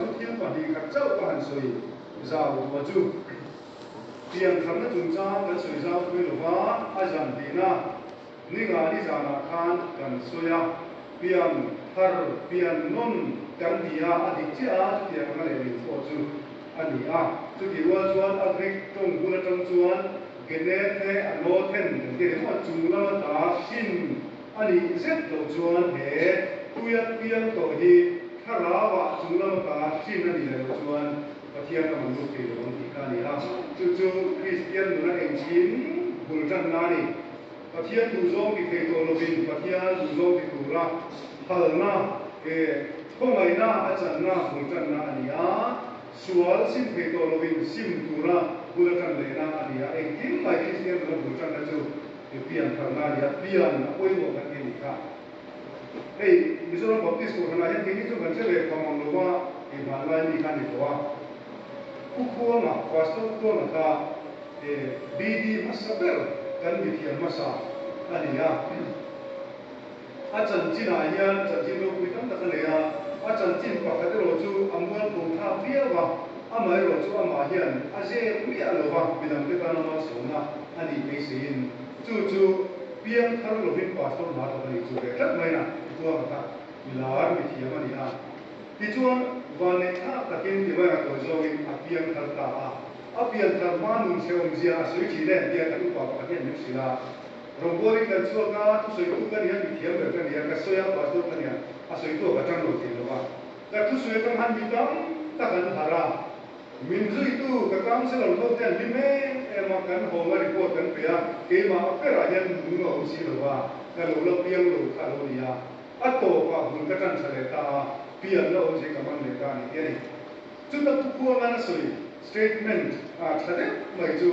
Thil pahnih khat chauh ka han sawi zau duh a chu pian khamna chung chang kan sawi zau phui lo va, a zan tihna ni nga ni zanah khan kan sawi a, pian thar, pian nawn kan ti a, a dik chiah a chuti ang a leh leh thawh chu a ni a. Chuti rual chuan a Greek tawng hun atang chuan gene the, a no then kan ti a ni maw, chung lama ta, shin, A nih zet loh chuan he tuia piang tawh hi Thlarau ah chung lam ata hlim a nih leh loh chuan Pathian lam an lut thei loh ang tih kha a ni a. Chu chu Kristian nuna engchhin bul tan na a ni. Pathian duhzawng ti thei tawh lovin Pathian duhzawng ti tura phalna, e, khawngaihna a channa bul tan na a ni a. Sual sim thei tawh lovin sim tura bula tan lehna a ni a. Engkim mai Kristian nuna bul tanna chu. Mipi an harh na nia, pian a pawi zawk khan i ni kha. Hei Mizoram Baptist kawlhran ah hian kei hi chu kan hre ve pham ang lo va, kei hman lai mi kha a ni tawh a. Khukhuang ah Pastor khuang a kha he BD hmasa ber kan mithiam hmasa a ni a. A chanchinah hian chanchin ropui tam tak a nei a, a chanchin pakhat erawh chu a mual khawm thlak viau a, amah erawh chu amah hian a zep miah lo va midangte tan a malsawmna a nih phei seiin chu chu piang thar lovin pâstawr hma tak a nih chu ve tlat maina vuang a khat mi lar mi thiam a ni a. Tichuan, vanneih thlak takin timai a tawi zawngin a piang thar ta a, a pian thar hma nun seawm zia a sawi thin em tia kan upa pakhat hian min hrilh a. Ropawlin kan chhuak a, thusawitu ka nia a mithiam ber ka nia, ka sawi a Pastor ka nia a sawitu a ka tang lo thei lo a, ka thusui atang han mi tam tak an harh a, min zuitu ka council a rawlhawk te an hlim em em a, kan hawng a report kan pe a, keimah a per ah hian nung a awm si lo a, ka lo la piang lo kha lo nia a tawp ah hun ka tanṭha leh ta a, pian la awm si ka man leh ta ani tih a ni. Chuta pu khuangan a sawi statement ah ṭha deuh mai chu.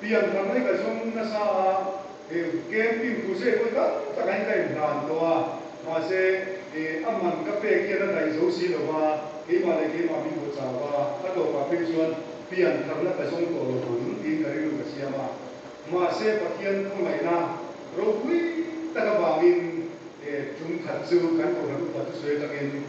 Pian thar mai ka zawng nasa a, he camping tur zet pawh tam tak in ka in hlan tawh a, mahse a man ka pek hian a daih zo si lova, keimah leh keimah min haw chau va, a tawpah phei chuan pian tharna ka zawng tawh lo ang tiin ka rilru ka siam a, mahse Pathian khawngaihna ropui tak avangin tum khat chu kan cohlan upat chu sawi atangin,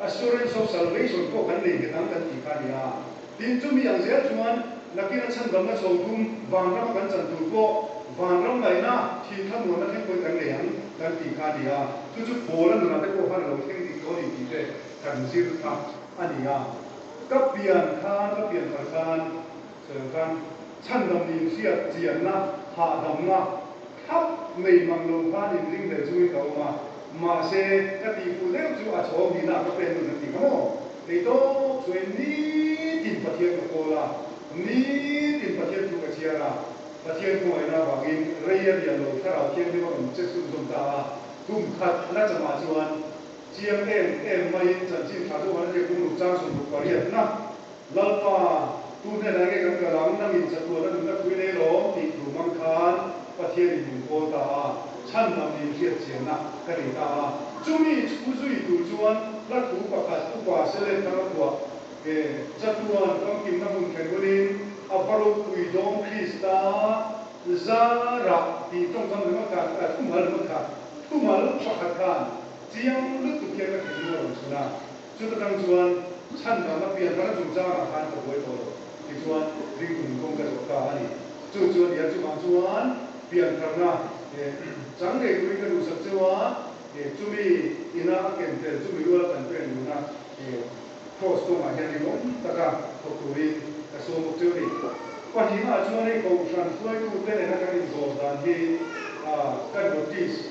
Assurance of salvation pawh kan nei nghet ang kan tih kha a ni a. Tin, chumi ang zel chuan nakin a chhandam na chho tum van rama kan chan tur pawh van ram ngaihna thin thlamuanna thleng pawhin kan nei ang kan tih kha a ni a. Chu chu Paula nunah te pawh khan a lo thleng dik tawh a ni tih te kan zir kha a ni a. Ka pian khan, ka pian thar khan Kan chhandam ni hriat chianna, hahdamna thlap mai mang lo khan inring ve chung in ka awm a, mahse ka tih fuh deuh chu a chhawng hihna ah ka pen dawn han ti kha maw? Kei tawk chuain nitin Pathian ka call a, nitin Pathian thu ka chhiar a, Pathian khawngaihna avangin rei a rial lo thlarau thiang deuh a rawn check sum zawm ta a, kum khat la cham ah chuan chiang em em maiin chanchin thla zawk han hria kum ruk chang sawm ruk pariatna, Lalpa, tu hnenah nge kan kal ang? Nangin chatuana nunna phui nei lawm tih tur mang khan Pathian in min kawl ta a, chhan lam lin hriatchianna ka nei ta a. Chumi chhu zui tur chuan la thu pakhat upa Selet thanga kuah he chatuan famkimna hmun thlen hunin a va ropui dawng Krista zarah tih tawngkam lema khat, a thumal lema khat, thumal pakhat khan chiang lutuk hian ka theihna a rawn chhun a. Chuta tang chuan chhan mahna pian ral chung changah khan ka buai tawh lo tichuan ring tum kawng ka zawh ta a ni. Chu chuan nia chuvang chuan pian tharna chang ngei turin ka duh sak cheu a, chumi ina a ken tel chu mi rual kan pêl nuna Kraws kawngah hian ri lawm taka thawk turin ka sawm bawk cheu ni. Pahnihah chuan hei kohhran hruaitute nena kan inzawr dan hi ka notice.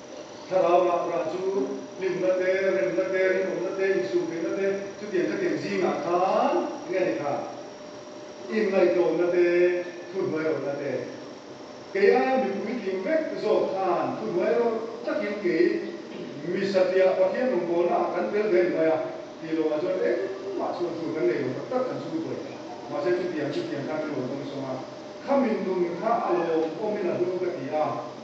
Thlarau rakrah chu hlimna te, remna te, rinawmna te, insûm theihna te, chutiang chutiang zîngah khân eng nge ni kha? In ngaihtlâwmna te, thu hnuai rawlna te. Kei aia mi puitling vek zâwk khân thu hnuai rawlh takin kei mi satliah Pathian rawn kâwlnâkah kan tel ve ni mai a, tih lawmah chuan engmah chuan chu kan nei lo tak tak kan zûr buai. Mahse chutiang chutiang khan min rawn awm sawng a, khamin nun kha a lâwm awmin a hûng ka ti a,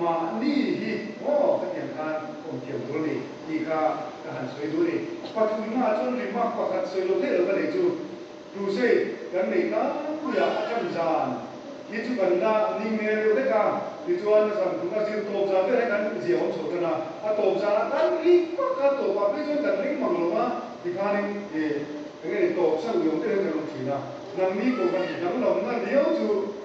Mahni hi aw khatiang khan awm thiam tur ni tih kha ka han sawi dun i, pathum hmaah chuan remark pakhat sawi lo theih lo ka nei chu, Tusei, kan nei tlangpui a a chhan zan hi chu kan la ni ngei reu vek a, tichuan a zan thung a zir tawp zan vel hi kan zia awm chho tan a, a tawp zan a kan ri vak a, tawp ah phei chuan kan ring mang lo a, tikhan in eng nge ni tawp san ui awm tel hi kan awm thin a, nangni kawngka hnih dang lam na riau chu.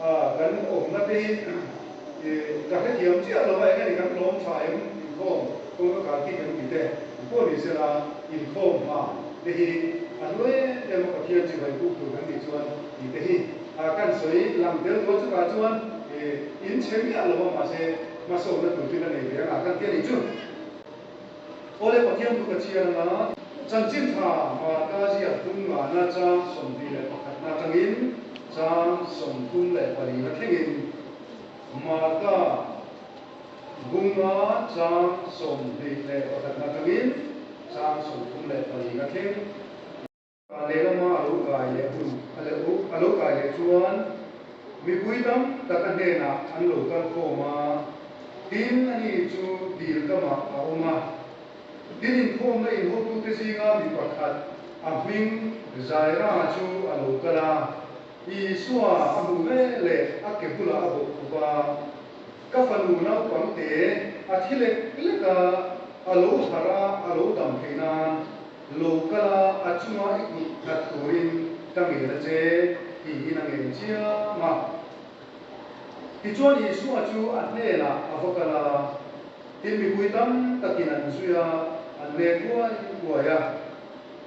A, kan awmna te hi e ta hrethiam chiah lo a, eng ani kan tlawm tha em? Inkhawm kawngka kal ti kan ti te pawh ni se la, inkhawm hma te hi a hnuai em em a Pathian chibai puk tur kan nih chuan tih te hi a kan sawi lang tel tawh a, chutah chuan e in che miah lo a mahse hmasawkna tur te ka nei ve ang a kan ti a nih chu. Khawlei Pathian tuk a chhiar ang a, chanchin tha hmaa ta ziah tum ngana chang sawmpi leh pakhatna atangin chang sawmthum leh palina thlengin hmaa ta bunga chang sawmhnih leh pakhatna atangin chang sawmthum leh palina thleng A lehlam a lo kai leh hun a leh u. A lo kai leh chuan mipui tam tak a hnenah an lo kal khawm a, tin a ni chu dil kamah a awm a. Tin inkhawmna inhotute zinga mi pakhat a hming Zaira chu a lo kal a, Isua a hmuh leh leh a ke bulah a bawh khup a, ka fanu naupang te a thi lek lek a, a lo harh a, a lo dam thei nan. Lo kala a chunga i hmuh that turin ka ngel a che, tihin a ngei chiam a. Tichuan Isua chu a hnenah a va kal a, tin mipui tam takin an zui a, an hme huai huai a.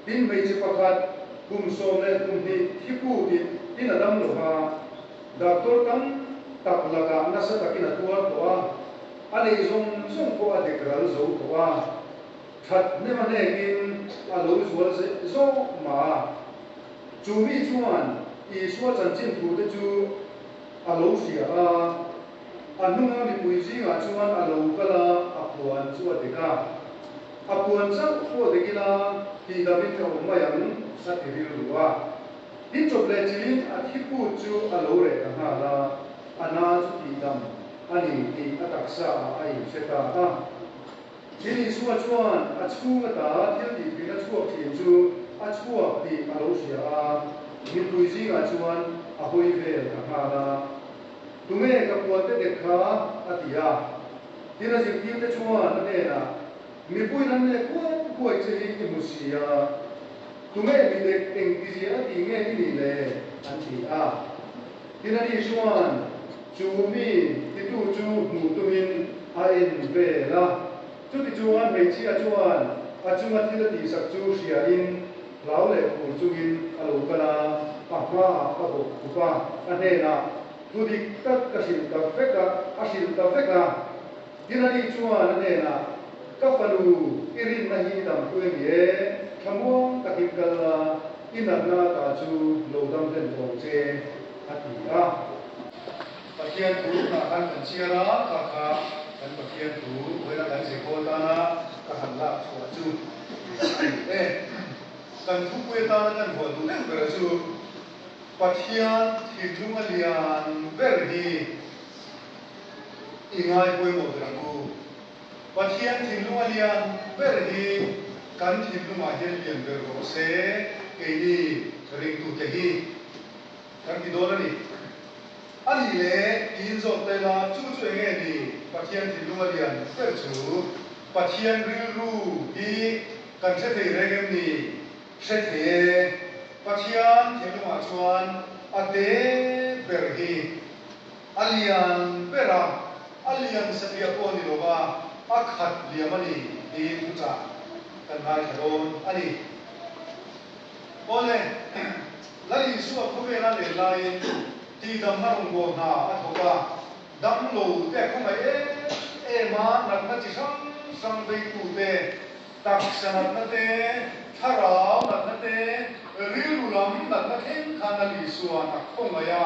Tin hmeichhe pakhat kum sawm leh kum hnih thi pu tih tin a dam lo a, doctor tam tak lakah nasa takin a tuar tawh a, a lei zawng zawng pawh a dek ral zo tawh a. That hnema nekin a lo zual zeh zawh mah a. Chu mi chuan Isua chanchin thute chu a lo hria a, a hnunga mipui zingah chuan a lo kal a, a puan chu a dik a. A puan zauh pawh dik ila tihdangin ka awm mai ang, a ti rilru a. Hi chawp leh chin a thiput chu a lo reh ta nghal a, a na chu tihdang a ni tih a taksa ah a inhre ta a. Tin Isua chuan a chhung ata thil tihpin a chhuak thin chu a chhuak tih a lo hria a, mipui zingah chuan a hawi vel ka nghal a. Tunge ka puante dek kha? a ti a. Tin a zirtirte chuan a hnenah, Mipui lam nge kuai kuai che hi i hmu si a? Tunge mi dek engtizia a ti nge i nih le? an ti a. Tin ani chuan. Chu mi titu chu hmuh tumin a inbel a. Chutichunga hmeichhia chuan a chunga thil a tihsak chu hria in hlau leh phur chungin a lo kal a, a hmaah a bawk khup a, a hnenah thu dik tak ka hrilh ta vek a, a hrilh ta vek a. Hiranih chuan a nen a, Ka falu, i rinna hi i dampu em i e, thlamuang takin kal la, i natna atah chu lo dam hlen tawng che, a ti a. Pathian thu hnah khan kan chhiar a, kha kha kan Pathian thu buaina kan Jehoa tana ka han lak chhuah chu a ni e. Kan thupui atana kan ruah duh duh bera chu Pathian thinlung a lian ber hi, I ngai pawimawh ber a Ku. Pathian thinlung a lian ber hi kan thinlungah hian lian ber rawh se keini ringtute hi kan ti dawn a ni. A nih leh tiin zawk ta ila chu chu eng nge ni Pathian thinlung a lian ber chu Pathian rilru hi kan hre thei reng em ni? Hre thei e. Pathian thinlungah chuan a te ber hi. A lian ber a, a lian sa bia pawh ni lo va, a khat liam a ni tiin thu chah kan ngaithla dawn a ni. Awle, Lal Isua khawvela nen laiin tihdam a rawn buang hna a thawk a, dang lo te a khawngaih em em a, natna chi hrang hrang veitu te, taksa natna te, thlarau natna te, rilru lam natna thleng khan Lal Isuan a khawngaih a.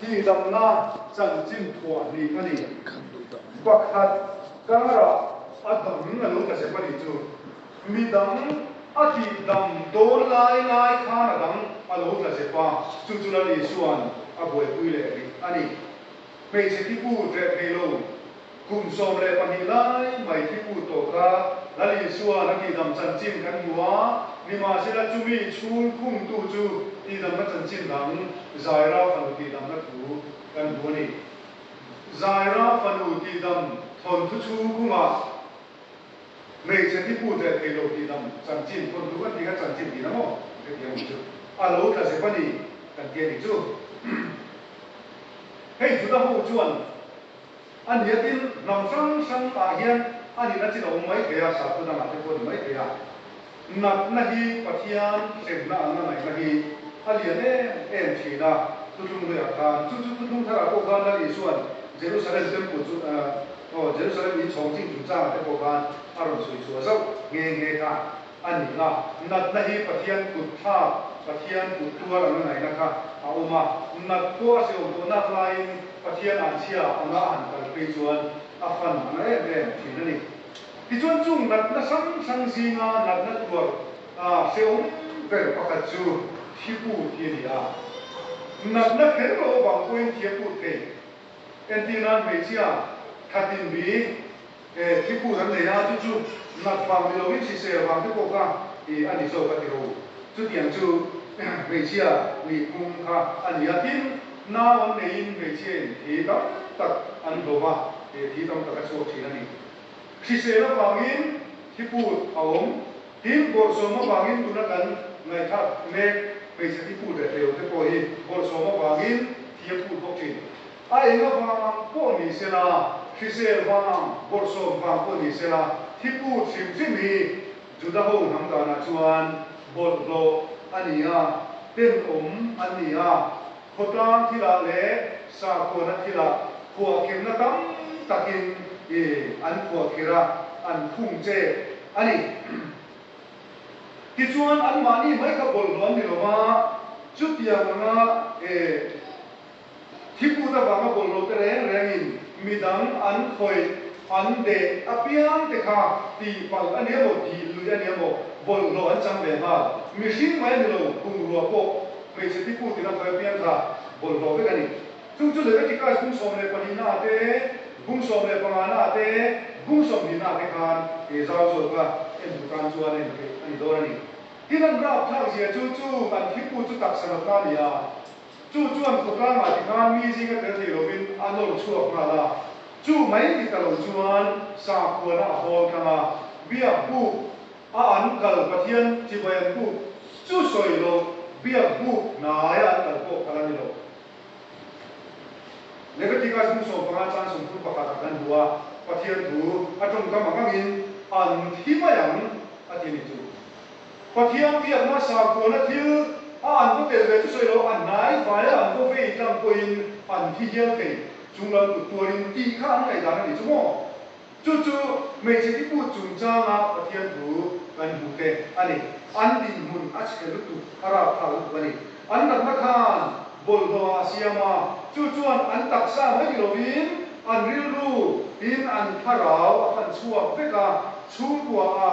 Tih damna chanchin thuah hnih a ni. Pakhat karah a dang a lo tlasep a nih chu. Mi dang a tih dam dawn lai lai khan a dang a lo tlasep a, chu chula ni chuan a buaipui leh rih a ni. Hmeichhe tipu reh hmelo Kum sawm leh pahnih lai mai khi put tawh kha Lalisua na tihdam chanchin kan hmu a, nimahsela chumi chhung khumtu chu tihdamna chanchin dang Zaira fanu tihdamna thu kan hmu a ni. Zaira fanu tihdam thawnthu chhung khumah hmeichhe khi put leh theilo tihdam chanchin thawnthu kan tih kha chanchin tih na maw hetiang mi chu a lo tla zep a ni kan ti a nih chu. Hei Juda ho chuan. A niatin ram hrang hrang ah hian a nih na chin a awm mai thei a, Sakhaw dang ah te pawh a ni mai thei a. Natna hi Pathian hremna an la ngaihna hi a lian em em thin a, chu tlung ruih ah khan chu chu chu tlung thar ah pawh khan Lal Isua'n Jerusalem Temple chu aw Jerusalem in chhawng ching chung chang ah te pawh khan a rawn sawi chhuah zauh nghe nghe kha. a ni a, natna hi Pathian kut thla, Pathian kut tuar an la ngaihna kha a awm a, nat pawh a siawm pawh nak laiin Pathian an chhia anga a han kal phei chuan a fan a na em em thin a ni. Tichuan chung natna hrang hrang zinga natna tuar hreawm ber pakhat chu thiput hi a ni a, natna kher lo avang pawhin thiaput thei, entih nan hmeichhia thlatinbi, E, thil put an nei a, chu chu nghat vang ni loin hrisel vang te pawh kha i a ni zawk a ti lo. Chutiang chu hmeichhia nih pum kha a ni a, tin, nau an neiin hmeichhia in thi tam tak an hlawm a, e, thi tam tak a chhuak thin a ni. Hrisel avangin thi put a awm, tin, bawrhsawm avangin tun a kan ngaihthlak mek hmeichhe thi put reh leh lo te pawh hi bawrhsawm avangin thi a put bawk thin. A eng avangah pawh ni se la, hrisel vangah bawrhsawm vang pawh ni se la, hi pu thimthim hi Juda ho hnam danah chuan bawrhhlawh a ni a, tenawm an ni a. Khawtlang thilah leh sakhuana thilah khuahkhirhna tam takin i an khuahkhirh a, an khung che a ni. Tichuan anmahni mai kha bawrhhlawh an ni lo va, chutiang anga e. Thil lut avanga bawlhlote reng rengin mi dang an khawih, an deh apiang te kha tihpalh a nia maw, tih luih a nia maw, bawlhhlawh an chang ve nghal. Mihring mai a ni lo, bungrua pawh hmeichhe pipu tina khawih apiang kha bawlhhlawh vek a ni. Chung chu Leviticus bung sawm leh pahnihnaah te, bung sawm leh pangahnaah te, bung sawm hnihnaah te khan he zau zawk a en hmu tan chuan a en theih a ni dawn a ni. Tin an rapthlak zia chu chu kan thilbu chu taksa nawtna a ni a. Chu chuan khawtlangah ti khan mi zing a tel thei lovin an lo chhuak nghal a. Chu mai ti ta lo chuan sangkhuana a hawl thlang a, biak buk a an kal Pathian Tibayan buk chu sawi lo biak buk hnaia an kal pawh kal a ni lo. Leviticus buk sawm panga chuan sawmthum pakhatah kan hmu a, Pathian thu a tawngkam ang angin a nut hi mai ang a ti a ni chu. Pathian biak hma sakhuana thil a an vaw tel ve chu sawi lo, a hnai vaia an vaw vei tlang pawhin an thi hial thei chung lam kut tuarin tih kha an ngaihdan a ni chu maw? Chu chu hmeichhe tibu chungchanga Pathian thu kan hmuh te a ni. An dinhmun a chhe lutuk, a rau tha lutuk a ni. An ratna khan bawlhhlawha a siam a, chu chuan an taksa mai ti lovin an rilru in an thlarau a fan chhuak vek a, chhungkua a,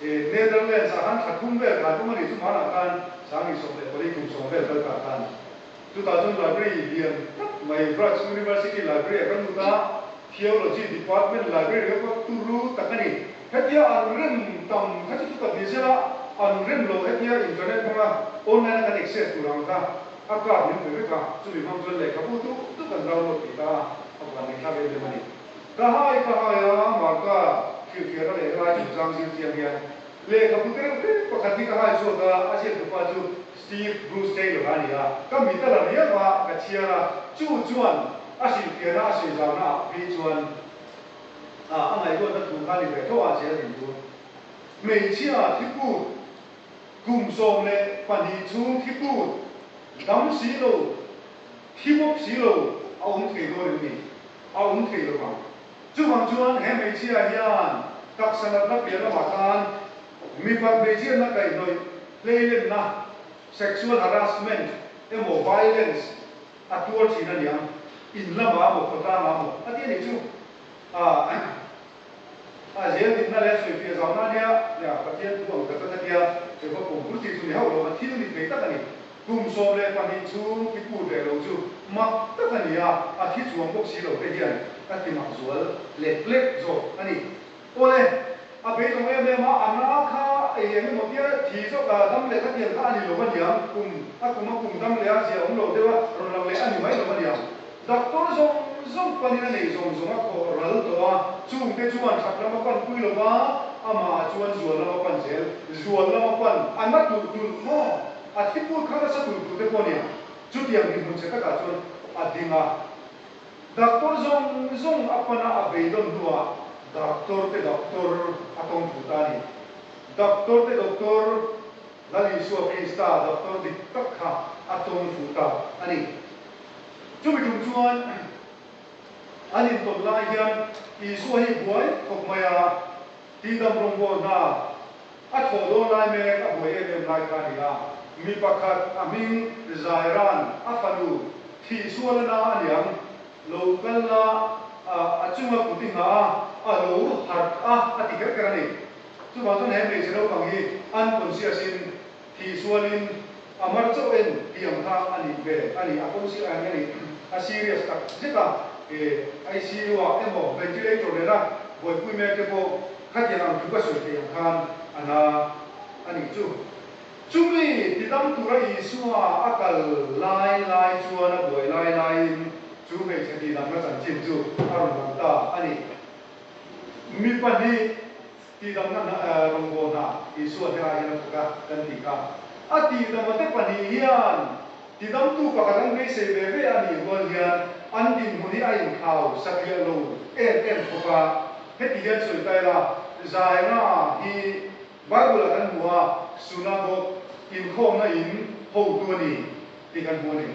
He Netherlands ah khan thla thum vel kha an awm a ni, chumah lah khan sanghnih sawm leh pali tum sawm vel kal kah khan chutah chuan library lian tak mai Graz University Library a kan lut a, Theology Department Library ringawt pawh turu tak a ni. Hetia an rem tam kha chu chutak ni zela an rem lo, hetia internet hmanga online a kan access tur ang kha a card min hmu vek a, chumi hmang chuan lehkhabu duh duh kan download tih ta a, a van leh thlak em em a ni. Ka hai ka hai a, Marta thilthiana leh helai chung chang zir chiang hian lehkha pute reuh hreh pakhat hi ka hai chhuak a, a ziaktu pa chu Steve Bruce Taylor a ni a, ka mit a la riau a, ka chhiar a, chu chuan a hrilhfiahna a sawi zauhna ah hi chuan ah a ngaihluatna thu kha ni ve tho a zir a din chu hmeichhia thiput kum sawm leh pahnih chhung thiput dam si lo Hi bawk si lo, a awm thei dawn em ni? A awm thei lo vang. Chuvang chuan he hmeichhia hian taksa natna piah lamah tan mipa hmeichhiatna kaihnawih hleilenna, sexual harassment, emaw violence a tuar thin a ni ang. In lamah maw, khaw tlang ah maw a ti a nih chu. Ahh. A zêldinna leh a sawifiah zâwkna ania, tiah Pathian thu ang tak tak a ti a. Jehovah kawng bul chi chu ni hauh lo, a thil ni thei tak a ni. Kum sawm leh pahnih chhûng i pût leh lo chu mak tak a ni a, a thi chuang bawk si lo te hian ka ti mak zual lek lek zawk a ni. Awle, a beitawng êm êm a, a na kha ei eng emaw tia thi zawk a dam leh ka ti ang kha a ni lo a niang. Kum, a kum a kum dam leh a zia awm lo deuha rawn lang leh a ni mai lo a niang. Doctor zawng zawng panin a nei zawng zawng a khawh ral tawh a, chung te chuan that lam a pan pui lo va, amah ah chuan zual lam a pan zel, zual lam a pan a na tur tur maw, a thi put kha nasa tur tur te pawh nia, chutiang dihmun che takah chuan a ding a. Doctor zawng zawng a pan a a vei dawn hnuah Doctor te Doctor a tawng thu ta a ni. Doctor te Doctor, Lal Isua Krista Doctor dik tak kha a tawng thu ta a ni. Chumi tum chuan an intawp lai hian Isua hi buai khawp mai a, Tindam rawngbawl hna a thaw dawn lai mek a buai em em lai kha a ni a. Mi pakhat a hming Jairan a fanu thih sual a na a niang lo kal la a, a chunga kut i ngah a, a lo harh a a ti ker ker a ni. Chuvang chuan he hmeichhe naupang hi an conscious in, Tih sualin, A mar chauh en tih ang kha a nih ve a ni. A pawn chiah ang a ni. A serious tak zet a. Eh, ICU ah emaw, ventilator nena buaipui mek te pawh khatiang ang thu ka sawi theih ang khan a na a nih chu. Chumi ti dang tura Isua a kal lai lai chuan a buai lai laiin chu hmeichhe ti dangna chanchin chu a rawn lang ta a ni. Mi pahnih. Tihdamna hna eh, rawngbawh hna, Isua herah hian a thawk a kan ti kha. A tihdama te pahnih hian tidamtu pakhat an beisei ve ve a nih rual hian an dinhmun hi a inkhau satliah lo em em khawp a. Heti hian sawi ta ila, Zaina hi Bible-ah kan hmu a Sunagogue inkhawmna in hotu a ni tih kan hmu a ni.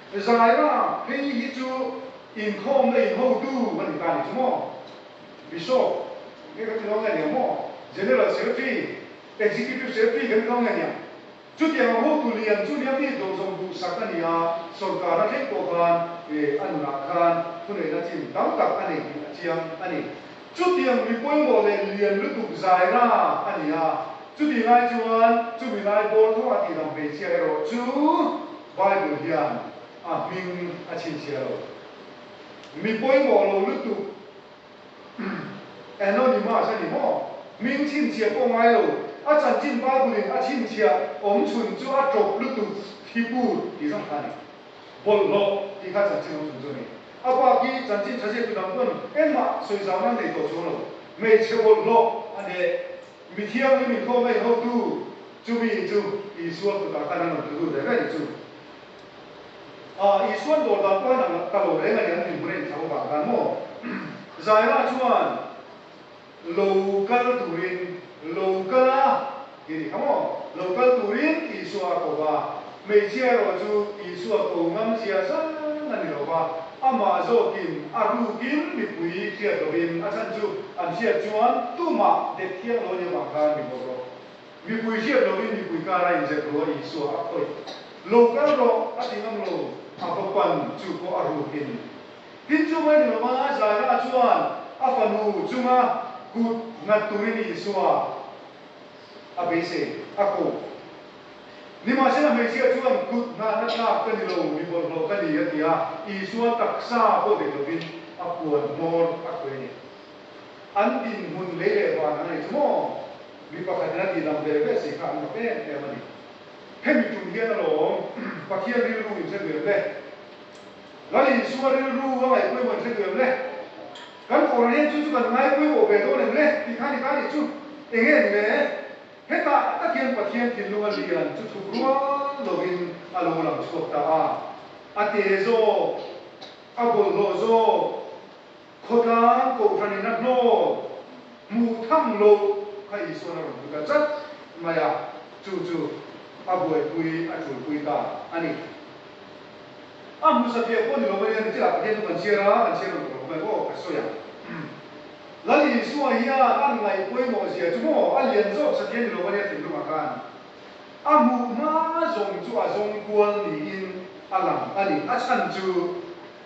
Zaira, Hei hi chu inkhawm la inho tu a ni ta ni chu maw? Bishop, Nge kan ti lo nge nia maw? General Secretary, Executive Secretary kan ti lo nge nia? Chutiang a hotu lian chu nia mi zawmzawm duhsak a ni a, sorkarna thleng pawh khan a nunah khan thuneihna chin tam tak a nei tih a chiang a ni. Chutiang mi pawimawh leh lian lutuk zai ra a ni a, chuti ngai chuan chumi lai bâwl thawng a tihdam hmeichhia erawh chu Bible hian a hming a chhinchhiah lo. Mi pawimawh lo lutuk Anonymous a ni maw? Hming chhinchhiah pawh ngai lo, a chanchin Bible-in a chhinchhiah awmchhun chu a ṭawp lutuk hi pût tih zawng kha a ni. bawlhhlawh tih kha chanchin ho chung chu a ni. A bak hi chanchin tha zia tu dang chuan engmah sawi zau nan nei tawh chu a lo. Hmeichhe bawlhhlawh a ni. Mithiang lim inthlawm mai hotu chumi chu Isua kutah khan an awm tlu lut reh reh ni chu. A Isuan dawr dan pawh hian a la ta lo reng a ni an inhmun a inthla vawk ang khan maw? Zaira chuan. Lo kal turin, lo kal a, tih ni ka maw? Lo kal turin Isua a ko va, hmeichhia erawh chu Isua ko ngam zia zan a ni lo va, amah zawkin a rukin mipui hriat lovin a chhan chu an hriat chuan tumah dekthiang lo ania vang kha an ri bawr rawh. Mipui hriat lovin mipui kara inzet rua Isua a khawih. Lo kal rawh, a ti ngam lo, a va pan, chu pawh a rukin. Tin chu mai duh lova Zaira chuan a fanu chunga kut nghat turin Isua a beisei a ko. Nimahsela hmeichhia chuan kut nghahna tlak ka ni lo, mi bawrhhlawh ka ni a ti a, Isua taksa pawh dek lovin a puan hmawr a khawih a ni. An dinhmun lei leh van ang nei chu maw? Mi pakhatin a tih dam ve ve si kha an mak em em a ni. Hemi tum hian alawm Pathian rilru inhre duem le. Kan Isua rilru a ngaihpawih hun hrethu em le? Kan kawr rian chu chu kan ngaipawih awh ve dawn em le? tih kha ni ta nih chu, enge ni le? Heta a tak hian Pathian thinlung a lian chu thup rual lovin a lo lang chhuak ta a, a te zawk, a bawlhhlawh zawk, Khawtlang kohhranin a hnawl hmuh thang lo kha Isuan a rawn pu ta chat mai a, chu chu a buaipui, a tulpui ta a ni. A hmusa piah pawh ni lo mania ni tila Pathian chu kan chhiar a, kan chhiar rawn tawh lo mai pawh ka sawi a. Lal Isua hian a ngaih pawimawhzia chu maw a lian zawk sa thiam ni lo mania thinlungah khan a hmuh hma zawng chu a zawng kual niin a lang a ni. A chhan chu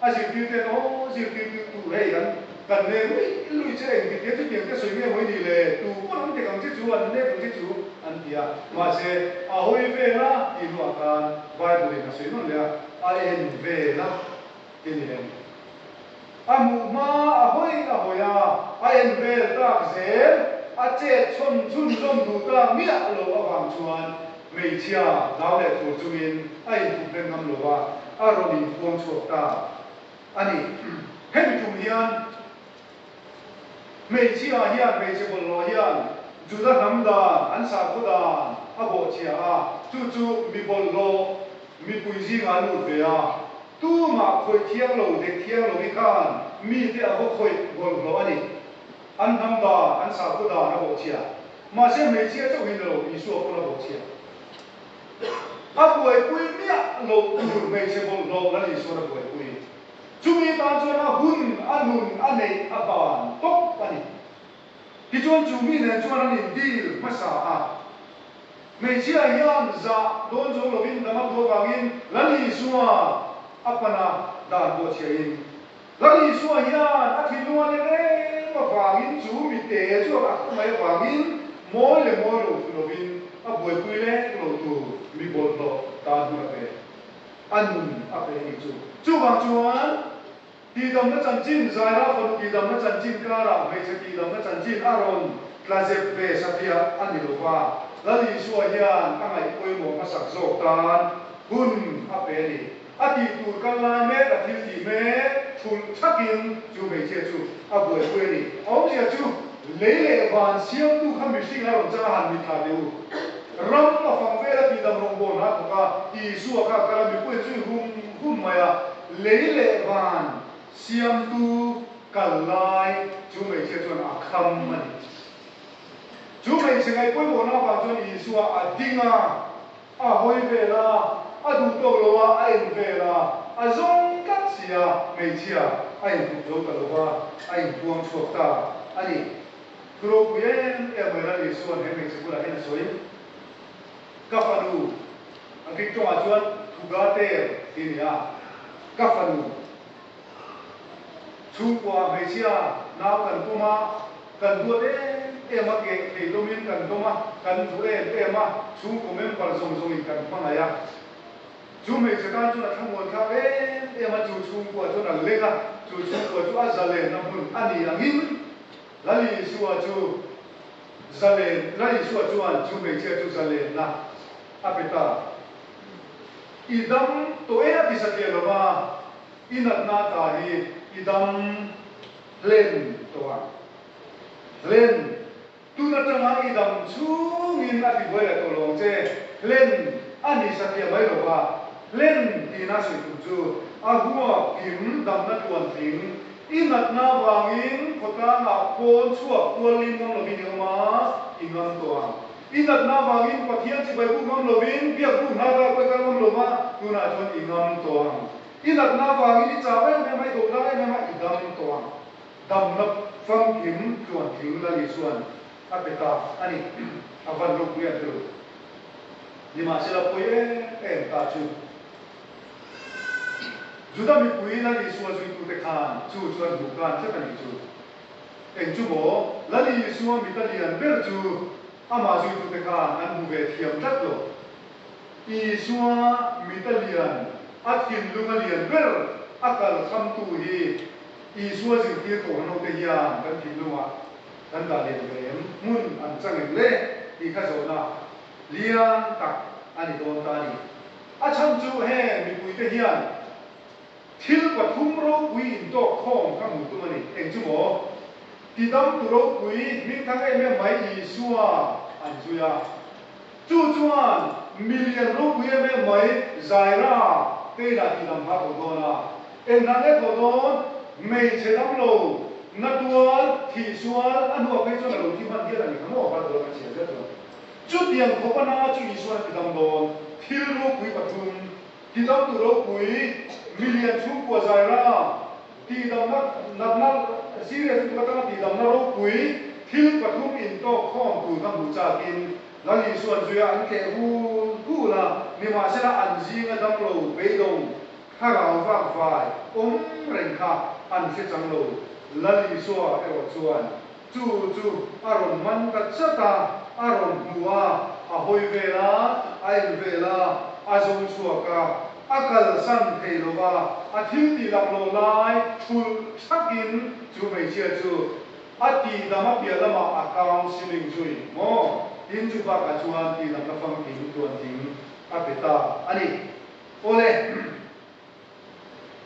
A zirtirte hian aw zirtirtu hei hian kan nen ruih ruih che engtin tih a chutiang te sawi nge mawi ni le, tu pawh an dik ang che chu an lek ang che chu an ti a, mahse a hawi veng a tih hnu ah khan Bible in a sawi nawn leh a, a en vel a ti ni em? A hmuh hma a hawi a hawi a, a en vel tak zel, a chet chhawn chhunzawm duh tak miah lo avang chuan, Hmeichhia dau leh tur chungin a inthuphleng ngam lo a, a rawn inthuam chhuak ta a ni. Hemi tum hian hmeichhia hian hmeichhe bawlhhlawh hian Juda hnam dan an sakhaw dan a bawhchhiah a, chu chu mi bawlhhlawh mipui zingah a lut ve a. Tumah khawih thiang lo, dek thiang lohi khan mite a vaw khawih bawlhhlawh a ni. An hnam dan, an sakhaw dan a bawhchhiah. Mahse hmeichhia chauh hi na lo Isua pawn a bawhchhiah. A buaipui miah loh tur hmeichhe bawlhhlawh la nih chuan a buaipui. Chumi tan chuan a hun, a nun, a neih, a ban tawp a ni. Tichuan chu mi nen chuan an indil hmasa a. Hmeichhia hian zah dawn zo lovin dam a tu avangin la nih chuan a pan a dan bawhchhiahin. Ral Isua hian a thinlung a le reng avangin chu mite chu a rak ta mai avangin mawi le mawi rotu lovin a buaipui lek lo tur mi bawlhhlawh dan hmun a pek a nun a pe anih chu. Chuvang chuan tihdamna chanchin Zaira fanu tihdamna chanchin karah hmeichhe tihdamna chanchin a rawn tla zep ve satliah a ni lova Ral Isua hian a ngaih pawimawh hmasak zawk tan hun a pe anih. A tih tur kal lai mek a thil tih mek thulh chak in chu hmeichhia chu a buaipui a ni. A awm leh a chu lei leh van siamtu kha mihring a rawn changa han mitthla teh u. Ram a fang vel a tih dam rawngbawr hna thawk a Isua kha a kal a, mipui an zui hum hum mai a, lei leh van siamtu kal lai chu hmeichhia chuan a kham a ni. Chu hmeichhe ngaih pawimawhna vang chuan Isua a ding a. A hawi vel a, a duh tawk lo a, a en vel a, a zawng tlat si a, hmeichhia a in tum zo ta lo va, a in puang chhuak ta a ni. Thu ropui em em mai ral Isuan he hmeichhe bulah hian a sawi, Ka fanu, a Greek tawngah chuan, thu ga ter tih a ni a, ka fanu. Chhungkua hmeichhia nau kan pawm a, kan duat em em a, keh thei hlawmin kan dawm a, kan duh em em a, chhungkaw member zawng zawngin kan hmangaih a. Chu hmeichhe tan chuan a thlamuanthlak em em a, chu chhungkua chuan a leng a, chu chhungkua chu a zalehna hmun a ni angin, Lali Isua chu zalen, Lali Isua chuan chu hmeichhia chu zalenna a pe ta. I dam tawh e a ti satliah lo va, i natna ta hi i dam hlen tawh a. Hlen, tun atanga i dam chungin a ti buai leh tawh lo ang che, hlen a ni satliah mai lo va. Hlen tihna sawi tur chu a huap kim damna tluan tling, I natna vangin khawtangah pawn chhuak tuallin ngam lovin i awm a, i ngam tawh ang. I natna vangin Pathian chibai buk ngam lovin biak buk hna kha kawih kal ngam lova, tunah chuan i ngam tawh ang. I natna vangin i chau em em a, i doh tlang em em a, i dam tawh ang. Damna famthim tluan tling lal hi chuan a pe ta a ni. A van ropui ang thilo. Nimahsela pawi em em ta chu. Juda mipui Lali sual zuitute khan chu chuan hmuh kan tlat a nih chu. Eng chu maw, Lali sual mi ta lian ber chu amah zuitute khan an hmu ve thiam tlat lo. Isua mi ta lian a thinlung a lian ber a kal khamtu hi Isua zirtir kohhrangote hian kan thinlungah kan dah lian ve em? Hmun an chang em le? Tih kha zawhna lian tak a ni dawn ta a ni. A chhang chu heng mipui te hian thil pathum ropui in tawk khawm ka hmuh tum a ni, eng chu maw? Ti dam tu ropui hming thang em em mai Isua an zui a. Chu chuan mi lian ropui em em mai Jaira te inah ti dam hla tho dawn a. Eng hla nge tho dawn? Hmeichhe dam lo na tual thih sual a hnuah phei chuan a lo thim han hial a ni kha maw? Bible a kan chhiar zel chuan. Chutiang tho pana chu Isua an ti dam dawn, thil ropui pathum, tidam tu ropui million chhung kua zai ra, tihdamna natna serious lutuk atanga tihdamna ropui thil pathum intawk khawm tur ka hmuh chakin Lali suan zuia an tleh hul hul a, nimahsela an zinga damlo beidawng thlarau vak vai awm reng kha an hre changlo, Lalisua erawh chuan. Chu chu a rawn man ta chat a, a rawn hnu a, a hawi vel a, a en vel a, a zawng chhuak a, a kalsan thei lo a, a thil tih lak lawm lai thul thak in chu hmeichhia chu a tihdam a piah lam ah a counselling chu in maw tin chu bak ah chuan tihdam la fangkim tuan ding a pe ta a ni. Awle.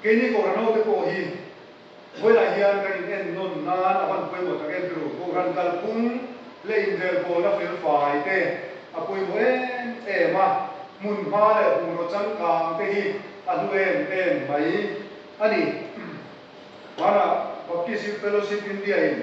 Kei ni kawhhran ho te pawh hi vawilah hian kan in en nawn nan a van pawimawh tak em tru, kawhhran kalphung leh inrel pawlna felfai te a pawimawh em em a, hmun hma leh bungraw changkang te hi a hlu em em mai a ni. Hmanah Baptist Youth Fellowship India-in.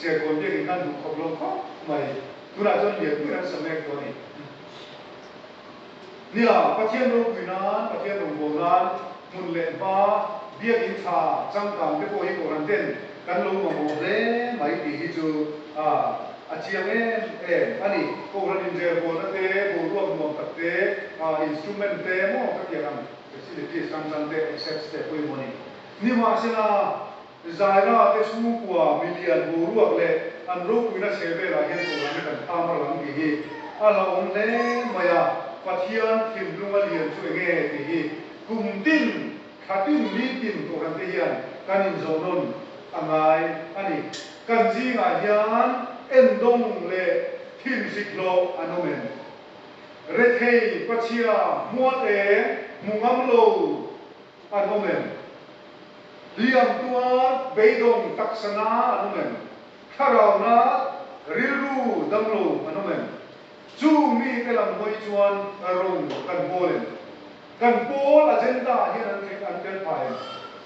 Serkawn biakin kan duh khawp lo khawp mai. Tunah chuan lianpuiin an sa mek tawh a ni. Nia, Pathian ropui nan, Pathian rawngbawm nan, hmun leh hma, biakin tha, changkang te pawh hi Kohhrante'n kan lo mamawh hle mai tih hi chu a a chiang em em a ni. Kohhran inzerbualna te, boruak nuam tak te, instrument te emaw ka tiang ang, facilities hrang hrang te, assets te pawh emaw ni. Nimahsela, Zaina te chhungkua milian boruak leh an ropuina chhe velah hian kawr an kan kham a rang tih hi a la awm hle mai a, Pathian thinlung a lian chu eng nge tih hi kum tin, thla tin, ni tin cohlan te hian kan inzawh nawn a ngai a ni. Kan zingah hian en dawng leh thin hriklawh an awm em? Rethei, pachhia, hmual eng, hmu ngam lo an awm em? Hliam tua beidawng taksa na an awm em? Thlarau na rilru dang lo an awm em? Chu mi te lam hawi chuan rawng kan pawl em? Kan pawl agenda ah hian an an tel pha em?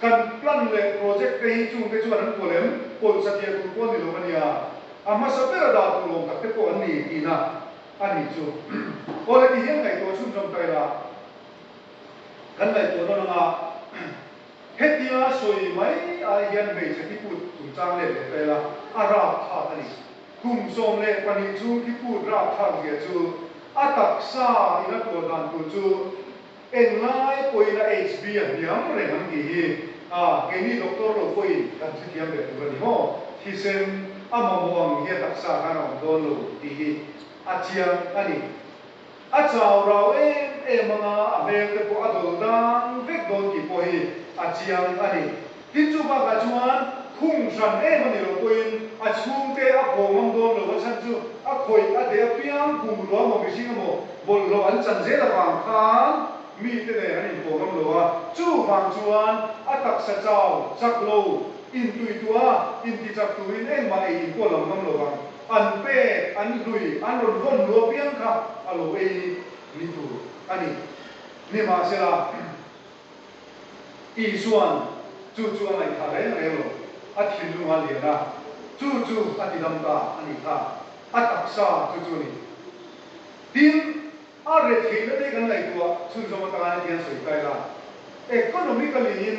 Kan plan leh project te hi chungte chuan an kual em? Pawisa tia tur pawh an ni lo a nia. A hmasa bera dah tur awm tak te pawh an ni tina a ni chu. Aw le tihian ngaihtuah chhunzawm ta ila. Kan ngaihtuah na langa hetia sawi mai ai hian hmeichhe ki put chungchang let ve fel a, a rap thlak a ni. Khum sawm leh pahnih chhung ki put rap thlak zia chu a taksa in a tuar dan tur chu eng lai pawhin a HB a hniam reng ang tih hi a keini doctor lo pawhin kan thlethiam ve tur a ni maw? Thisen a mamawh ang hia taksa khan a awm dawn lo tih hi a chiang a ni. A chau rau em em anga a velte pawh a dawlh dang vek dawn tih pawh hi a chiang a ni. Tin chu bakah chuan khung hran em a ni lo pawhin a chhungte a phaw ngam dawn lo a chhan chu a khawih a deh apiang, bungrua maw mihring emaw bawlhhlawh an chan zel avang khan mite nen an inphaw ngam lo a, chuvang chuan a taksa chau chak lo, intuihtuah a intichak turin engmah ei inpawh lam ngam lo vang. an pek, an hlui, an rawn vawn lu apiang kha a lo ei ni tur a ni. Nimahsela, Isua'n chu chu a ngaihthah reng reng lo, a thinlung a lian a, chu chu a tidam ta a nih kha a taksa chu chu a ni. Tin, a retheihna te kan ngaihtuah chhunzawm atangin a thiansawi ta ila, economically-in,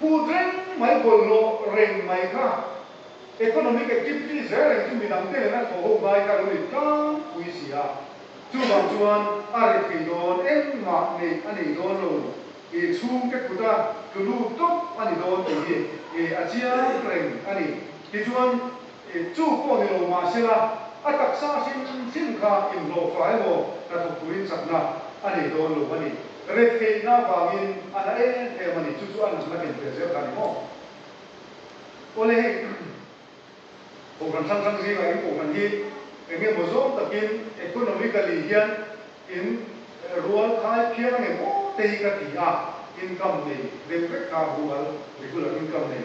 Pu Treng Mai bawlhhlawh reng mai kha Economic Activity zel reng chu midang te nen a thaw ho ngai kha a lo in tlang pui si a, chuvang chuan a ri thei dawn engmah nei a nei dawn lo tih chhungte khuta tlu lut tawp a ni dawn tih hi a chiang reng a ni. Tichuan. Ih, chu pawh ni lo mah sela, a taksa hrim hrim kha inhlawh fai emaw hna thawk turin chakna a nei dawn lo a ni. Ret theih na vangin a na em em a ni, chu chu a nang na kentir zel kha a ni maw? Awle heng Kohhran hrang hrang zingah in Kohhran hi eng nge maw zawng takin economically hian in rual khai phiar a ngemaw te hi ka ti a, income nei deuh vek kha rual regular income nei.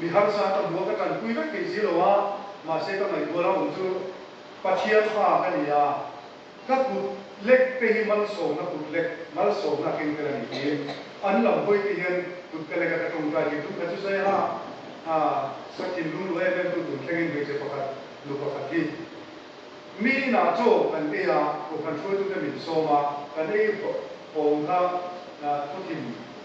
Mi harsa ka hmu a, ka tanpui vek thei si lo a, mahse ka ngaihtual a awm chu Pathian hma ka ni a, ka kut lek te hi malsawmna kut lek, malsawmna a keng tel a nih tiin an lam hawi te hian kut ka leka ka tawngtai thei tum kha chu zai ha a, Sakhin lungrual em em tu tur thlengin hmeichhe pakhat nu pakhat hi mi inah chaw kan ei a, kawngkhar hruaitute min sawm a, kan ei hawm kha khawthim.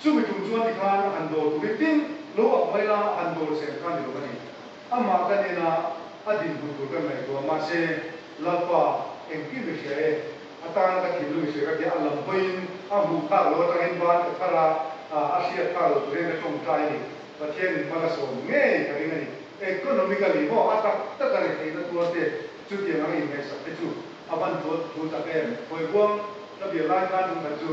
Chumi tum chuan ti khan a han dawr tum i tin lo a hmai a, a han dawr chen khan ni lo a ni. Amah ka nena a din hmu tur ka ngaihtuah mahse Lalpa engkim ka hria e, atana ka thinlung i sawi ka tia a lam hawiin a hmuh khak lo atangin ban ka thar a, a hriat khak lo tur hian ka tawng ta i ni. Pathian in hmala sawm ngei ka ring a ni. Economically maw a tak tak a ri theihna tuar te chutiang ang inneihsak te chu a van tuar thu tak em? Hawibuang ka bial lai khan tum khat chu.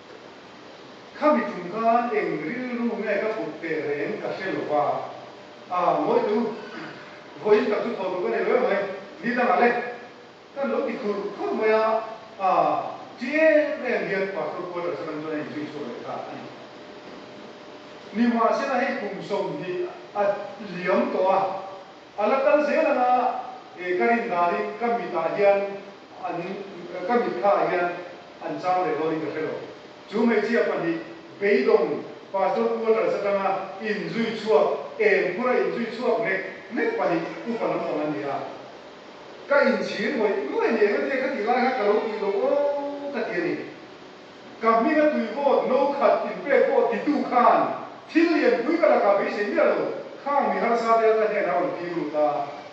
Khami chung khan eng rilru nge ka put teh reng ka hre lo va, ah Mawitu, vawiin ka chu thawh duh ka ni lo em mai, ni dangah le kan lo ti khur khur mai a, ah Ti em em hian Pastor Kuater Saramchuana in chu i chhuak leh ta a ni. Ni mah se la hei kum sawmhnih a liam tawh a, a la kal zel ang a, eh ka rin dan in ka mit ah hian an ka mit kha ah hian, an chang leh dawn in ka hre lo. Chu hmeichhia pahnih beidawng Pastor Pu Atal Satanga inzui chhuak em khura inzui chhuak mek mek pahnih upa lampang an ni a. Ka inchhir hawi nuai ni engatia ka tih lai kha ka lo tih lo aw ka ti a ni. Ka hminga tuivawt no khat in pek pawh titu khan thil lianpui ka lakah beisei miah lo, khang mi harsate an la hnenah a rawn ti ru ta.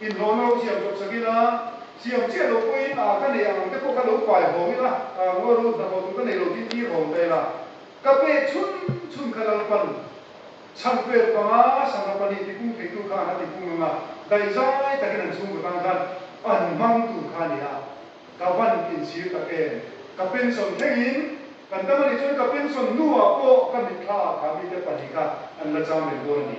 Inhlawh lo siam chawp sak ila, siam chiah lo pawhin a ka neih ang te pawh ka lo pai hawng ila, a rua rut hna pawh chu ka neih lo tih tir hawng ta ila, ka pek chhun chhun ka lo pan. Chhang pek panga sangha pahnih tipum theihtu kha an a tipum ang a, daihzai takin an chhungkaw tan khan pan hmang tur kha a ni a, ka van insir tak em! Ka pension thlengin kan tam a ni chuan ka pension hnuah pawh ka hmit thla a khami te pahnih kha an la chang reng dawn a ni.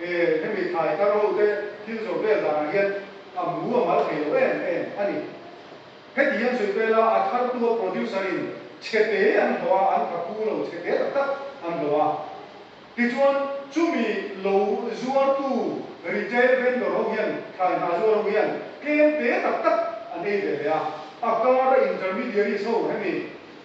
E, hemi thlai ta rote thil zawh vel danah hian a mu a mal thei loh em em a ni. Hetihian sawi pela a thartu a producer-in chhe te an hlawh a, an kha pu lo chhe te tak tak an hlawh a. Tichuan, chumi lo zuartu retail vendor ho hian thlai hna zuar ho hian tlem te tak tak an ei ve ve a. A kara intermediaries ho hemi.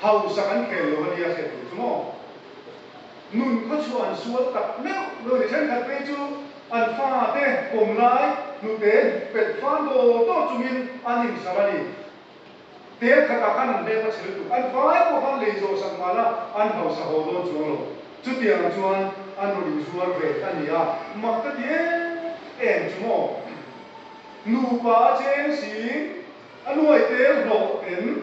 hau sak an khel lo ania hriat duh chu maw? Nun khaw chu an sual tak meuh lo ni thenkhat phei chu an fate pawm lai hnute hnukpet fân tawh tawh chungin an insam a ni. Tel khatah khan an hnem a chhe lutuk, an vai pawh khan lei zawh sak mala an hausa haw dawn chuang lo. Chutiang chuan an rawn inzuar ve a nia, mak ka ti em em chu maw? Nupa a cheng sin a nuai tel hlawh ten.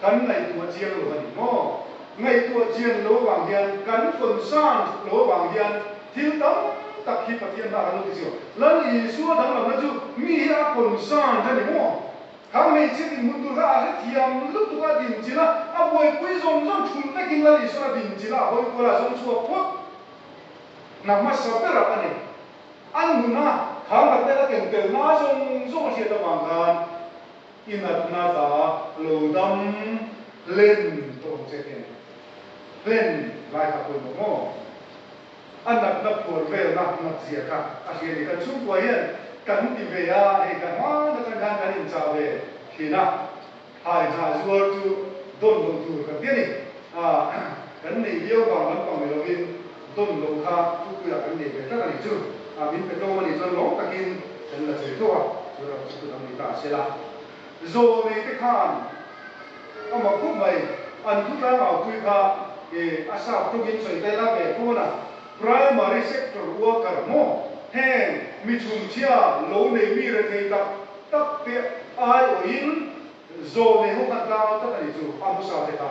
Kan ngaihtuah chiang lo a ni maw? Ngaihtuah chiang lo vang hian, kan funsan ṭha lo vang hian, thil tam tak hi Pathian hna kan lo ti chiang. Lal Isua danglamna chu mi hi a funsan a ni maw? Khang hmeichhia dinhmun tur kha a hre thiam lutuk a din chilh a, a buaipui zawng zawng ṭhum vekin Lal Isuan a din chilh a, a hawi kual a, a zawng chhuak phawt. Hna hmasa ber ang a ni. An huna khang rat nen a tentelna a zawng zawng a hriat avang khan, I natna hla a lo dam hlen tawh ang che tih a ni. Hlen lai kha pawimawh maw? A natna phuar velna ngakzia kha a hria ni. Kan chhungkua hian kan ti ve a, hei kan hmang atang hian kan inchah ve thin a, hai hnah zuar chu dawn lo tur kan ti a ni. Kan nei viau vang lampang ni lovin. Dawn lo kha Tupuia kan nei ve tlat a nih chu, a min pe tlawm a nih chuan rawng takin kan la chei tawh a, chu ram chu khut ang ni ta a sela. Zaw nei te khan a mak khawp mai, an thutlang aupui kha he a sap tawkin sawi tai la ve kho na, Primary sector worker maw, heng mi chhungchhia lo nei mi rethei tak tak te aiawhin zaw nei ho khan tlang lo tlat a nih chu a hmusa te kha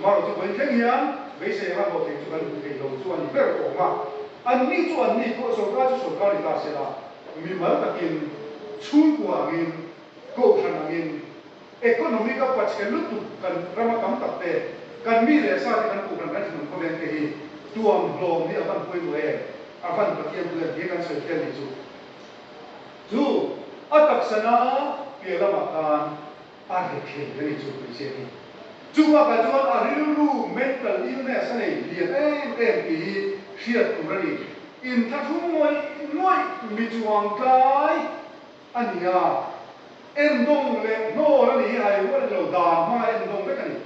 Mah rawh chubawin thleng hian beisei anga hlawh theih chu kan hmuh theih lo chu a ni ber awm a. An ni chu an ni pawh sorkar chu sorkar ni ta sela, mi mal takin chhungkua angin, kohhran angin, economic a pachhel lutuk kan rama tam tak te, kan mi leh sa te kan kohhran kan thinawm khaw veng te hi tuam hlawm hi a van huai maw e? A van Pathian puian hi kan sawi fial ni chu. Chu a taksa na piah lamah khan. a hre thleng ka nih chu kan hriat ni. Chu bakah chuan a rilru mental illness a nei hliam em em tih hi hriat tur a ni. Inthlaṭhu ngawih ngawih mi chuang tlai a ni a, en dawng leh hnawl a ni hi hai rual ilo dan hmanga en dawng vek a ni.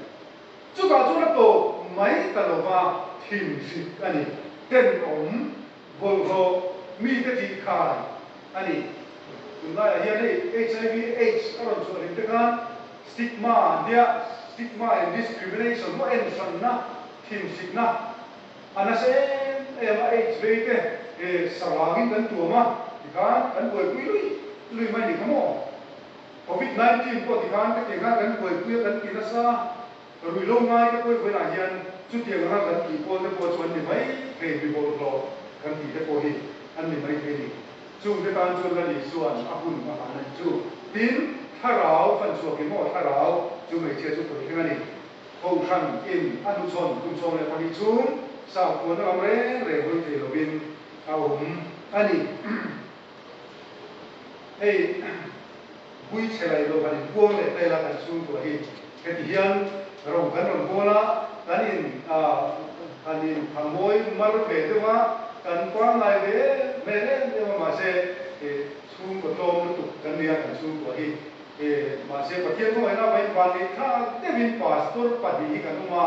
Chutah chuan a tawp mai ta lova thinhrit a ni. Tenawm. Bawlhhlawh mite tih khai a ni. Tun laiah hian hei HIV, aids a rawn chhuahrim te khan stigma an tia, stigma in discrimination maw en hranna, thinhritna a nasa em em a, aids vei te he sarangin kan tuam a ti khan kan buaipui lui lui mai ni kha maw? Covid nineteen pawh ti khan ka ti khan kan buaipui a kan ti nasa. Ka ruih lo ngai ka pawi huaiah hian chutiang anga kan tih pawl te pawh chu an ni mai thei mi bawr hlawh kan tih te pawh hi an ni mai thei ni. Chung te tan chuan la ni chuan a hun a han a ni chu. Tin, Thlarau, fan chhuak emaw thlarau chu hmeichhia chu khawi thleng a ni. Kohhran in a hnuchhawn kum sawm leh pahnih chhung sauthuana lam reng reng hawi thei lovin a awm a ni. Hei bui chhelai lo han inkuang leh vel a kan chhung tu a hi heti hian ro kan rawn hawl a, kan in han in thamoy mar ve deuh a, kan kuang ngai ve hmel em em a mahse he chhungkaw tlawm lutuk kan nia kan chhung tu a hi mahse Pathian khawngaihna vaivang nei thlak deuhin pastor pahnih hi kan awm a,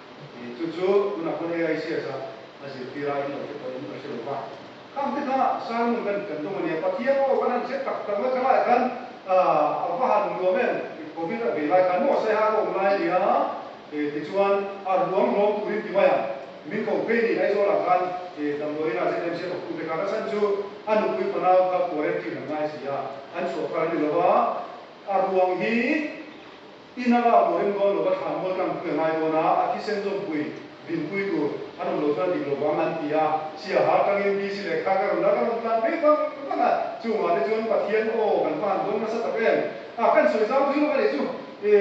Ih, chu chu tunah pawn AICS a a zirtir a, in lo te pawhin ka hre lo va. Kha ang te kha Salmon kan kan tum a nia, Pathian aw, kan han hre tak tak mai, chulaiah khan ah, a va han nuam em, ih, Covid a vei lai khan maw saihah ka awm lai a nia, eh, tichuan a ruam hlawm turin ti mai ang, min ko phei ni, Aizawlah khan eh, damdawiinah ZMC pakhu te khan a chhan chu a nupui fanau kha quarantine an ngai si a, an chhuah phar a ni lo va, a ruam hi. I na lak turin Dawn Lo va thlan ngawl tlang pui a ngai dawn a, a thisen zawmpui, vinpui tur an awm lo chuan dik lo vang an ti a. Sia har tangin BC leh kha ka rawn la ka rawn tlan ve vang vang a, chungah te chuan Pathian aw kan hman dawn nasa tak em. A kan sawi zau zui lawk a nih chu. I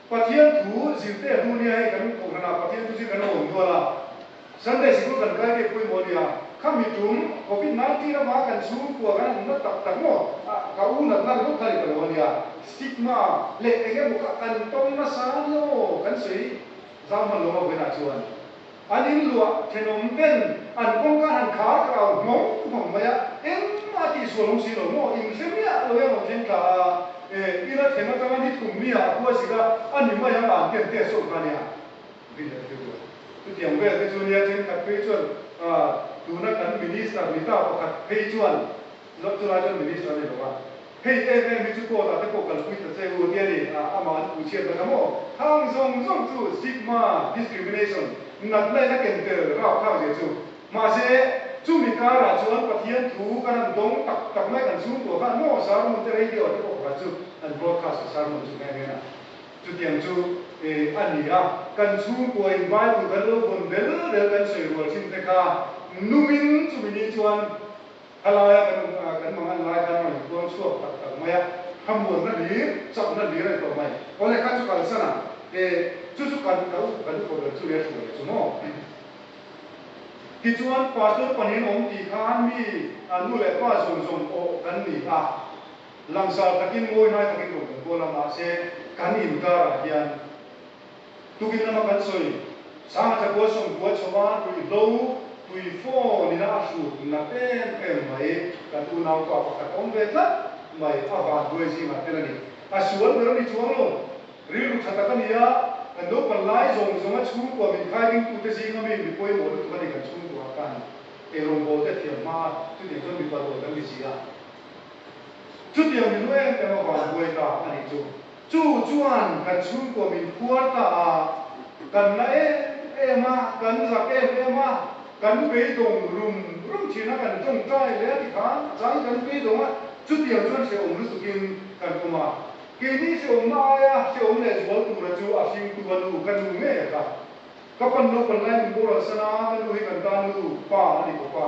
Pathian thu zir te a hnu nia hei kan kohhranah Pathian thu zir kan awm nual a. Sunday Sikul kan kai mek pawimawh nia, khami tum Covid nineteen lama kan chhung kual kan awmna tak tak maw ka u natna ringawt kha ni ka lo nia, stigma leh eng emaw kha kan tawng nasa nia aw kan sawi zau hman lawma vawilah chuan an in luah thenawm ben an kawngka han khar karau nghawng nghawng mai a, engmah tih sual awm si lo maw in hre miah lo hian awm thleng tla a, eh ila theng atanga ni thum mia a huazik a, ani mai ang an ti ang teh a sawi kha nia. Ri leh tir lo. Chutiang vel te chu nia thenkhat phei chuan tuna kan minister ni ta pakhat phei chuan zawk chulai chuan minister a ni lo a, hei em em hi chu court ah te pawh kalpui ta che u tia ni a amah an pu chhiat hlawih a maw? Thang zawng zawng chu stigma, discrimination, nat lain a ken tel rau khau zia chu. Mahse, chumi karah chuan Pathian thu ka rawn dawng tak tak mai kan chhungkaw kha a maw? Sermon te radio ah te pawh pakhat chu an broadcast a sermon chu hmel hmel a. Chutiang chu e a ni a, kan chhungkuain Bible kan lo vawn del del kan sawi rual thin te kha numin chumi ni chuan khalaia kan um a kan mangan lai khan rawn kuang chhuak tak tak mai a, khamuanna hlir, chakna hlir a ni tawh mai. Awle kha chu kalsan a, e chu chu kan ka u kan upa ber chu leh thluah leh chu maw? Tichuan, Pastor pahnih an awm tih khan mi nu leh pa zawng zawng aw kan ni a. Langsar takin ngawihnai takin rawn kan kual a, mahse kan inkarah hian tukin lama kan sawi. Sanghacha Kualsawm Tua chhawpa ruihhlo tui fawn ina a hrut nat em em mai ka tunau kua pakhat awm ve tlat mai a van ruai zingah tel a ni. A sual ber a ni chuang lo. Rilru tha tak a ni a, kan naupang lai zawng zawnga chhungkua min khai ding tute zinga mi mi pawimawh lutuk a ni kan chhungkuah khan eng rawngbawl te thiam hma a, chutiang chuan mipa dual kan ni zia. Chutiang min ru em em a van buai ta a nih chu. Chu chuan kan chhungkaw min khuar ta a, kan la em em a, kan zak em em a, kan beidawng rum rum thin a, kan tawng tai leh a ti khan a chang in kan beidawng a, chutiang chuan hrehawm lutuk in kan awm a. Keini hrehawmna aia hrehawm leh zual tura chu a hring tu a nu ka nu ngei a ka. Ka pan naupang lai min boral san a, ka nu hi kan tan nu pa a ni bawk a.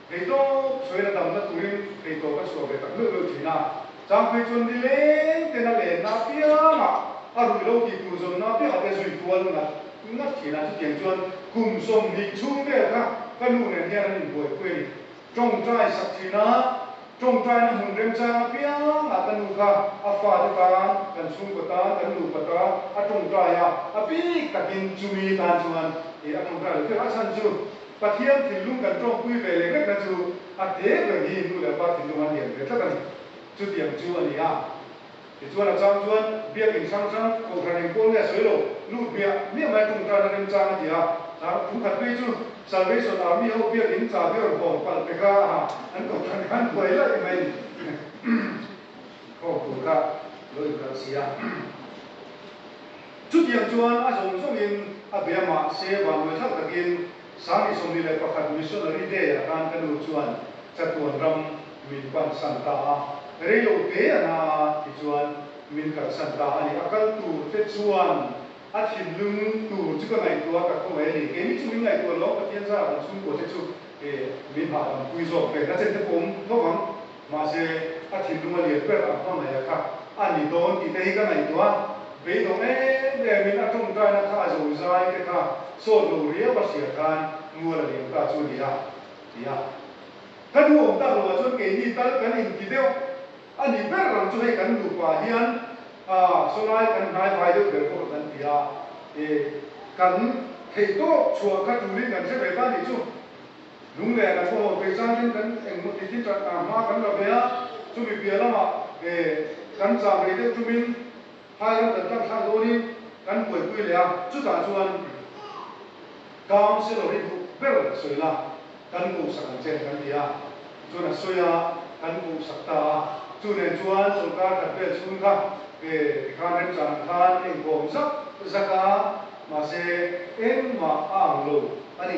Eitlawp sawi la damna turin eitlawp a chhuah ve tak meuh meuh thin a, Changphei chuan ni lengten a len na apianga a ruih lo tih tur zawn na apiang ah te zui kual ngat ngat thin a, chutiang chuan kum sawm hnih chhung vel kha ka nu nen hian an in buai phui a ni. Tawngtai sak thin a, tawngtai na hmun remchang apiang ah ka nu kha a fate tan, kan chhungkaw tan, kan nupa tan a tawngtai a, a bik takin chumi tan chuan a tawngtai lo tirh a chhan chu. Pathian thinlung kan tawngpui ve lek lekna chu a te ber hi nu leh pa thinlung an lian ve tlat a ni. Chutiang chu a ni a. Tichuan a chang chuan biakin hrang hrang khawhra reng kual nge a sawi lo, lut biah miah mai ṭung tana remchang a ti a. Thlak thum khat phei chu Salvation Army ho biakin chahbior bawm palh te kha aha an kawhhran khan buai laih mai ni. Khawm tur kha lo inkalh si a. Chutiang chuan a zawng zawngin a bia mah se vanvawi thar takin Sangi sawmli leh pakhat Missionary Day ah khan ka nu chuan Chatuan ram min pan san ta a, rei lo te a na a tichuan min kal san ta a ni. A kal tur te chuan a thinlung tur chu ka ngaihtuah tak ho mai a ni. Keini chu min ngaihtuah lo, Pathian zar an chhungkua te chu min hahdam pui zawk ve nachente pawm lo vang. Mahse, a thinlung a lian ber ang hmangaih a kha a ni dawn tite hi ka ngaihtuah. Beidawng em emin a tawngtaina kha a zo zai te kha sawt lo riau a hria khan mual a liam ta chu a ni a, ti a. Kan hu awm tak loah chuan keini tal kan inti deuh a ni ber ang chu hei kan nupa hian a sawlai kan hnai vai deuh ber bawk a kan ti a, e kan theihtawp chhuah kha tulin kan hre ve ta nih chu. Lung leh a thawhawk vei changin kan engmaw titin ṭan hna hma kan la ve a, chumi piah lamah he kan cham rei deuh tumin phairam kan tlangthlak dawnin kan buaipui leh a. Chutah chuan Councillor i duh ber sawi la, kan kohhsak ang che kan ti a, chuan a sawi a, kan kohhsak ta a. Chu nen chuan chawlhkar khat vel chhung kha he tikhan remchang ang khan engkawm zak zak a, mahse engmah a ang lo a ni.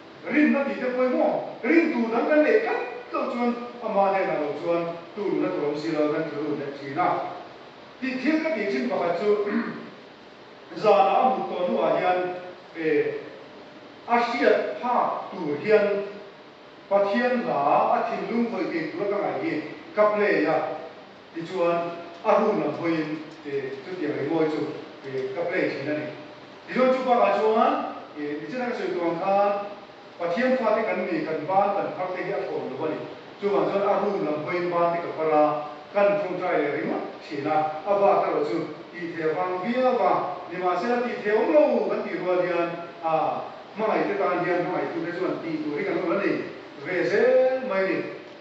Rin a tihte pawh emaw, rin tur dang kan neih tlat loh chuan amah nen ang lo chuan tuhrun a tur awm si lo kan thil run let thin a. Tih thil ka ti chin pakhat chu zanah a mut tawh hnuah hian eh a hriat phak tur hian Pathian hla a thinlung vawi kei tura ka ngaih hi ka play a. Tichuan, a run lam hawiin e chutiang ri mawi chu e ka play thin a ni. Tichuan chu bakah chuan e mi chena ka sawi tur ang khan Pathian fate kan ni kan ban kan phar te hi a thawn lo a ni. Chuvang chuan a run lam hawiin ban te ka phar a, kan tawngtai leh ringawt thin a. A vak erawh chu tihthei a vang viau va, nimahsela tihthei awm lo kan tih rual hian a hmangaihte tan hian hmangaihtute chuan tih tur hi kan awrh a ni ve zel mai a ni.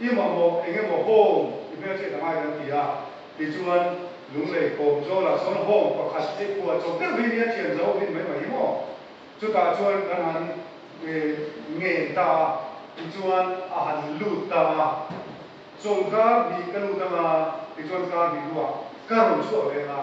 I mamawh eng emaw home ti hmel chiah ta ngai kan ti a, tichuan Lunglei kawm zawl ah sawn home pakhat hei khua chawp deuh hi nia thian zo hin mai mai hi maw? Chutah chuan kan han ngen ta a, tichuan a han lut ta a, chawng kar hnih ka lut anga tichuan kar hnih luah ka rawn chhuah veng a.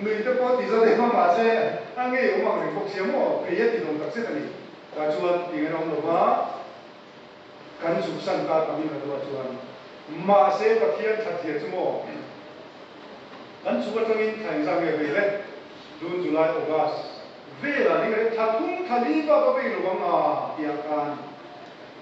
Nuihte pawh ti zawt em a, mahse a ngei awm ang reng bawk sia maw? Phei a ti dawng tak zet a ni. Tah chuan ti nghen a awm lo va, kan zuk san ta ta min Radu-a chuan, Mahse Pathian tha thia chu maw? Kan chhuk atangin tha engzah nge vei le? June, July, August vela ring rep tha thum tha li vava vei lo ang a, tiah a tan.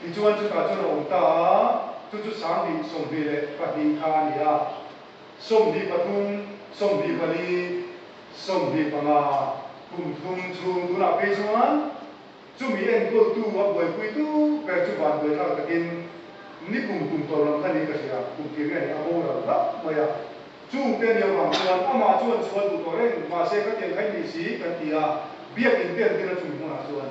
Tichuan chutah chuan a awm ta a, chu chu Sangbi, Sawmhni leh pahnih kha a ni a. Sawmhni pathum, Sawmhni pali, Sawmhni panga, kumthum chhung tunah phei chuan chumi enkawl-tu a buaipui tuk ber chu vanduai thar takin ni kum kum tawh lam kha ni ka hria, kum tih riah ni a bo rang rang mai a. Chung te ni avang chuan amah chuan chhuah duh tawh reng, mahse khatiang kha inneih si kan ti a, biakin te an tir a chumi hmunah chuan.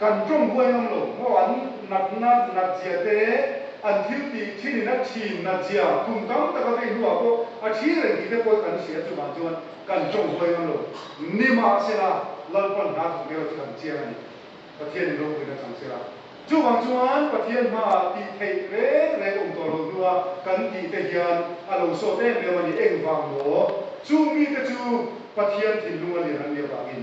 Kan tawng huai ngang lo, maw an natna natzia te, an thil ti thin in a thin natzia kum tam taka vei hnu ah pawh a thi reng tih te pawl kan hria chungah chuan kan tawng huai ngang lo. Ni mahsela Lalpan hna thawk nilo chu kan chiang a ni. Pathian in ropui na chang sela chuvang chuan Pathian hma ah tih theih reng reng awm tuah lo hnua kan tih te hian a lo sawt em em a ni. Engvang maw? Chung mi te chu Pathian thinlung a lian an nih avangin.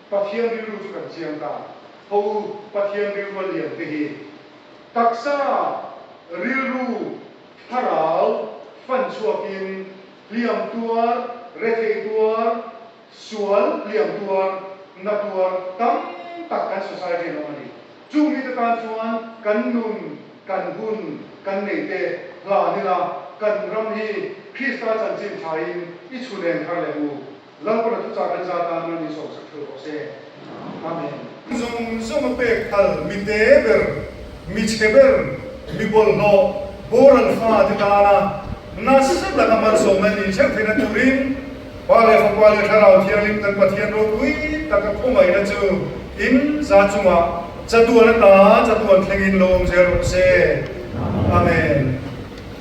Pathian rilru chu kan chiang ta. Ho Pathian rilrua lian te hi taksa rilru thlarau fan chhuakin hliam tuar, rethei tuar, sual hliam tuar, na tuar tam tak kan society-ah an awm a ni. Chung mite tan chuan kan nun, kan hun, kan neite hlan ila kan ram hi Krista chanchin thain i chhuneng thar leh u. Lam pawnah chu chang rengza tan ram in sawmsak thil kawh se. Amen. Zawng zawng a pek thal, mi te ber, mi che ber, mi bawlhhlawh, boral fa te tana nasa taka malsawmna in inchher theihna turin Pa leh Fapa leh Thlarau thianghlim kan Pathian ropui taka khawngaihna chu in za chungah chatuan ata chatuan thlengin lawmzia rawh se. Amen.